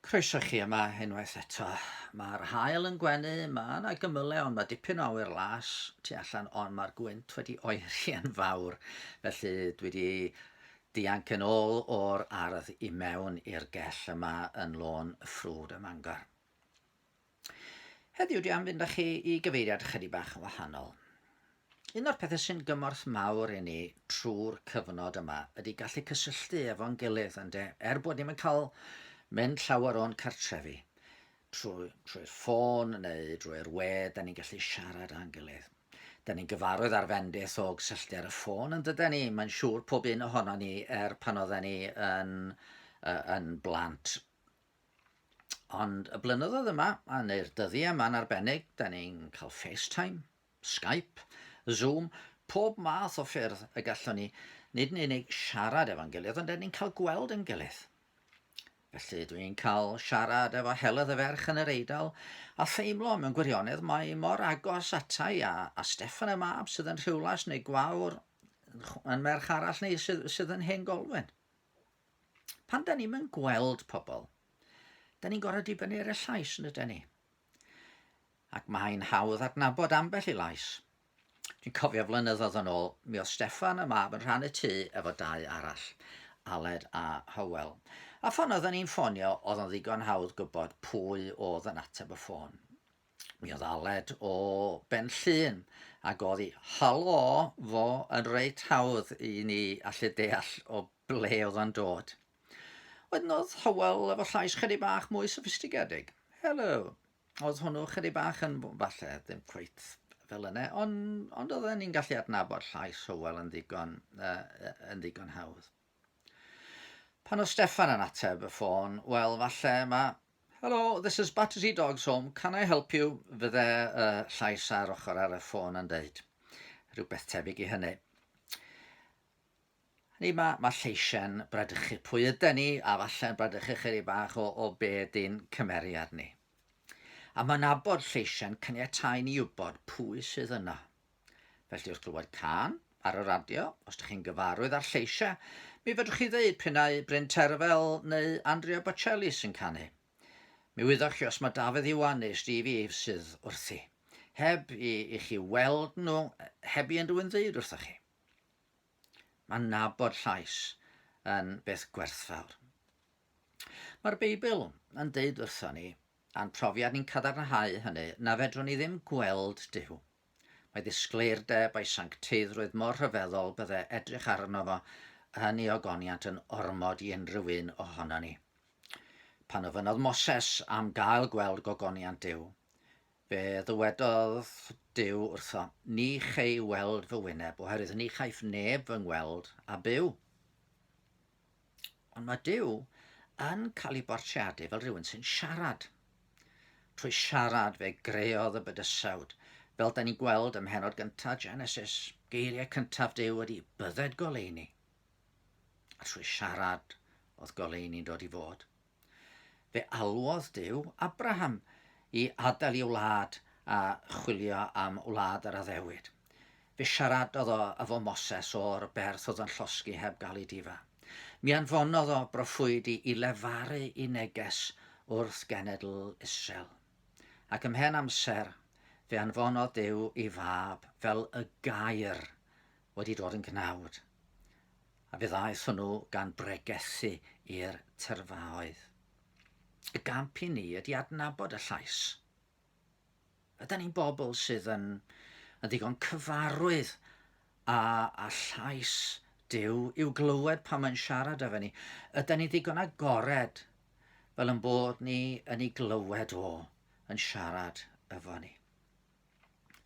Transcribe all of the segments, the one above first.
Croeso chi yma unwaith eto. Mae'r hael yn gwenu, mae yna gymylau ond mae dipyn o awyr las tu allan ond mae'r gwynt wedi oeri yn fawr felly dwi wedi dianc yn ôl o'r ardd i mewn i'r gell yma yn lôn y ffrwd ym Mangor. Heddiw dwi am fynd â chi i gyfeiriad chydig bach yn wahanol. Un o'r pethau sy'n gymorth mawr i ni trwy'r cyfnod yma ydy gallu cysylltu efo'n gilydd ynde, er bod ni'm yn cael mynd llawer o'n cartrefi trwy, trwy'r ffôn neu drwy'r we, da ni'n gallu siarad â'n gilydd. Da ni'n gyfarwydd ar fendith o gysylltu ar y ffôn yn dyda ni, mae'n siŵr pob un ohono ni er pan oedden ni yn, uh, yn blant. Ond y blynyddoedd yma, a neu'r dyddiau yma'n arbennig, da ni'n cael FaceTime, Skype, Zoom, pob math o ffyrdd y gallwn ni nid yn unig siarad efo'n gilydd, ond da ni'n cael gweld yn gilydd. Felly dwi'n cael siarad efo Heledd y ferch yn yr Eidal a theimlo mewn gwirionedd mae mor agos atai a, a Stefan y mab sydd yn Rhiwlas neu Gwawr yn merch arall ni sydd, sydd yn hen golwen. Pan da ni'n yn gweld pobl, da ni'n gorau dibynnu ar y llais yn ydyn ni. Ac mae'n hawdd adnabod ambell i lais. Dwi'n cofio flynyddoedd yn ôl, mi oedd Steffan y mab yn rhan y tŷ efo dau arall, Aled a Hywel. A ffon oedden ni'n ffonio, oedd o'n ddigon hawdd gwybod pwy oedd yn ateb y ffôn. Mi oedd Aled o Ben Llŷn ac oedd hi, halo, fo yn reit hawdd i ni allu deall o ble oedd o'n dod. Wedyn oedd Hywel efo llais chydig bach mwy soffistigedig. Helo! Oedd hwnnw chydig bach yn, falle, ddim cweit fel yna, ond, ond oedden ni'n gallu adnabod llais Hywel yn ddigon, uh, yn ddigon hawdd. Pan oedd Steffan yn ateb y ffôn, wel, falle mae... Hello, this is Battersea Dogs Home, can I help you? Fydde y llais ar ochr ar y ffôn yn dweud rhywbeth tebyg i hynny. Ni mae, mae lleisiau'n bradychu pwy ydy ni, a falle'n bradychu chyri bach o, o be ydy'n cymeriad ni. A mae'n abod lleisiau'n caniatau ni wybod pwy sydd yna. Felly wrth glywed cân ar y radio, os ydych chi'n gyfarwydd â'r lleisiau, mi fedrwch chi ddeud prin ai Bryn Terfel neu Andrea Bocelli sy'n canu. Mi wyddoch chi os mae Dafydd Iwan neu Stevie Eaves sydd wrthi, heb i, i chi weld nhw, heb i unrhyw un ddeud wrthoch chi. Mae nabod llais yn beth gwerthfawr. Mae'r Beibl yn deud wrthon ni, a'n profiad ni'n cadarnhau hynny, na fedrwn ni ddim gweld Dyw. Mae ddisgleir de bai sancteiddrwydd mor rhyfeddol bydde edrych arno fo yn ei ogoniant yn ormod i unrhyw un ohono ni. Pan ofynodd Moses am gael gweld gogoniant Dyw, fe ddywedodd Dyw wrtho, ni chei weld fy wyneb, oherwydd ni chaiff neb fy ngweld a byw. Ond mae Duw yn cael ei bortreadu fel rhywun sy'n siarad. Trwy siarad fe greodd y bydysawd, fel da ni'n gweld ym mhenod gyntaf Genesis, geiriau cyntaf Duw ydy bydded goleuni. A trwy siarad oedd goleuni'n dod i fod. Fe alwodd Duw Abraham i adael ei wlad a chwilio am wlad yr addewid. Fe siaradodd o efo Moses o'r berth oedd yn llosgi heb gael ei difa. Mi anfonodd o broffwyd i i lefaru i neges wrth genedl Israel. Ac ymhen amser, fe anfonodd Duw ei fab fel y gair wedi dod yn gnawd. A fe ddaeth hwnnw gan bregethu i'r tyrfaoedd. Y gamp i ni ydy adnabod y llais. Yda ni'n bobl sydd yn, yn ddigon cyfarwydd a, a llais Dyw i'w glywed pan mae'n siarad efo ni? Yda ni'n ddigon agored fel yn bod ni yn ei glywed o yn siarad efo ni?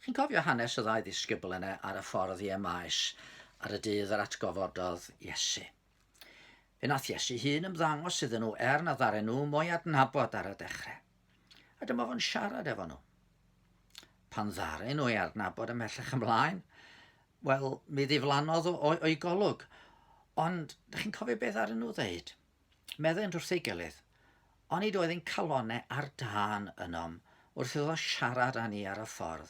Chi'n cofio hanes y ddau ddisgybl yna ar y ffordd i Emaes ar y dydd yr atgofododd Iesu? Fe nath Iesu hun ymddangos iddyn nhw er na ddaren nhw mo'i adnabod ar y dechrau. A dyma fo'n siarad efo nhw. Pan ddaren nhw ei adnabod ymhellach ymlaen, wel, mi ddiflannodd o'i golwg. Ond, da chi'n cofio beth ddaren nhw ddeud? Meddent wrth ei gilydd, Onid oedd ein calonnau ar dân ynom wrth iddo siarad â ni ar y ffordd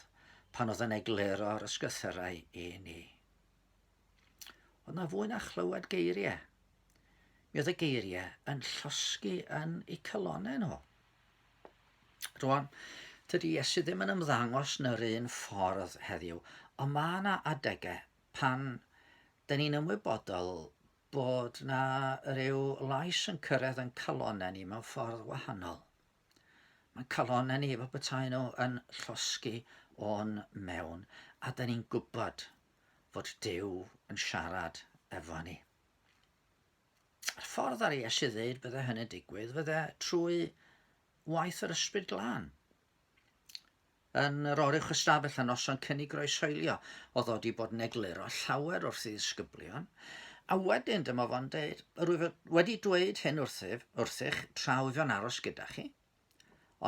pan oedd yn egluro'r ysgrythyrau i ni? Oedd na fwy na chlywed geiriau. Mi oedd y geiriau yn llosgi yn eu calonnau nhw. Rwan, tydi Iesu ddim yn ymddangos yn yr un ffordd heddiw, ond mae yna adegau pan dyn ni'n ymwybodol bod 'na ryw lais yn cyrraedd yn calonau ni mewn ffordd wahanol. Mae'n calonau ni efo bethau nhw yn llosgi o'n mewn, a da ni'n gwybod fod Dyw yn siarad efo ni. A'r ffordd ar ei esu ddeud bydde hynny'n digwydd, fydde trwy waith yr ysbryd glân. Yn yr oruwch ystafell a noson cynnig groeshoelio, oedd o wedi bod yn egluro llawer wrth ei ddisgyblion, a wedyn dyma fo'n dweud, rwyf wedi dweud hyn wrthyf, wrthych, tra wyf yn aros gyda chi,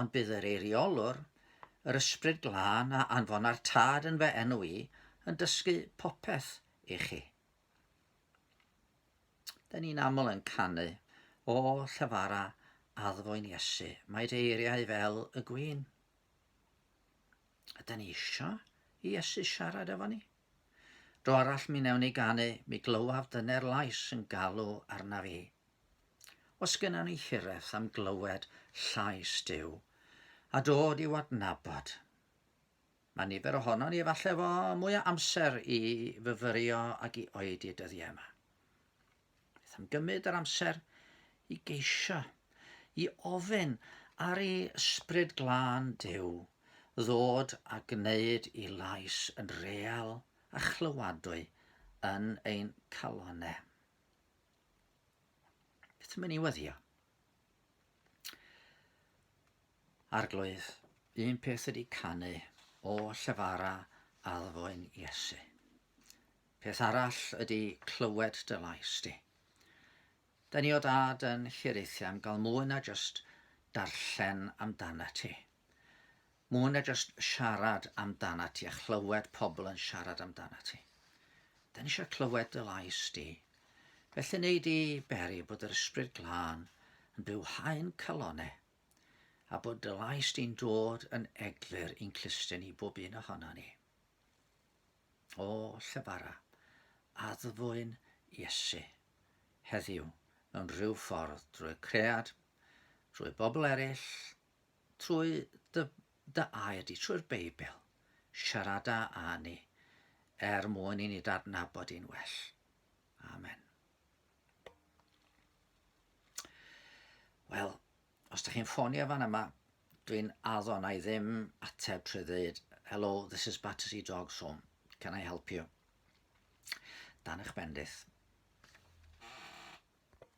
ond bydd yr eiriolwr, yr ysbryd glân a anfona'r tad yn fe enw i, yn dysgu popeth i chi. Da ni'n aml yn canu o llyfara addfwyn Iesu. Mae dy eiriau fel y gwyn. Ydy ni isio i Iesu siarad efo ni? Dro arall mi newn ni ganu, mi glywaf dyner lais yn galw arna fi. Os gynna ni hireth am glywed llais Dyw, a dod i'w adnabod, mae nifer ohono ni efallai fo mwy o amser i fyfyrio ac i oedi dyddiau yma. Beth am gymryd yr amser i geisio, i ofyn ar ei ysbryd glân Duw ddod a gwneud i lais yn real a chlywadwy yn ein calonau. Beth am ni weddio? Arglwydd, un peth ydy canu o llefara addfoen Iesu. Peth arall ydy clywed dy lais di. Da ni o dad yn hiraethu am gael mwy na just darllen amdana ti. Mwy na just siarad amdana ti a chlywed pobl yn siarad amdana ti. Da ni eisiau clywed dy lais di. Felly neu di beri bod yr ysbryd glân yn byw haen calonau a bod dy lais di'n dod yn eglur i'n clustiau ni bob un ohono ni. O Llebara, addfwyn Iesu heddiw mewn rhyw ffordd drwy cread, drwy bobl eraill, trwy dy, dy air di, trwy'r Beibl. Siarada â ni er mwyn i ni dadnabod i'n well. Amen. Wel, Os dych chi'n ffonio fan yma, dwi'n addo na i ddim ateb trwy ddweud Hello, this is Battersea Dogs Home. Can I help you? Dan eich bendith.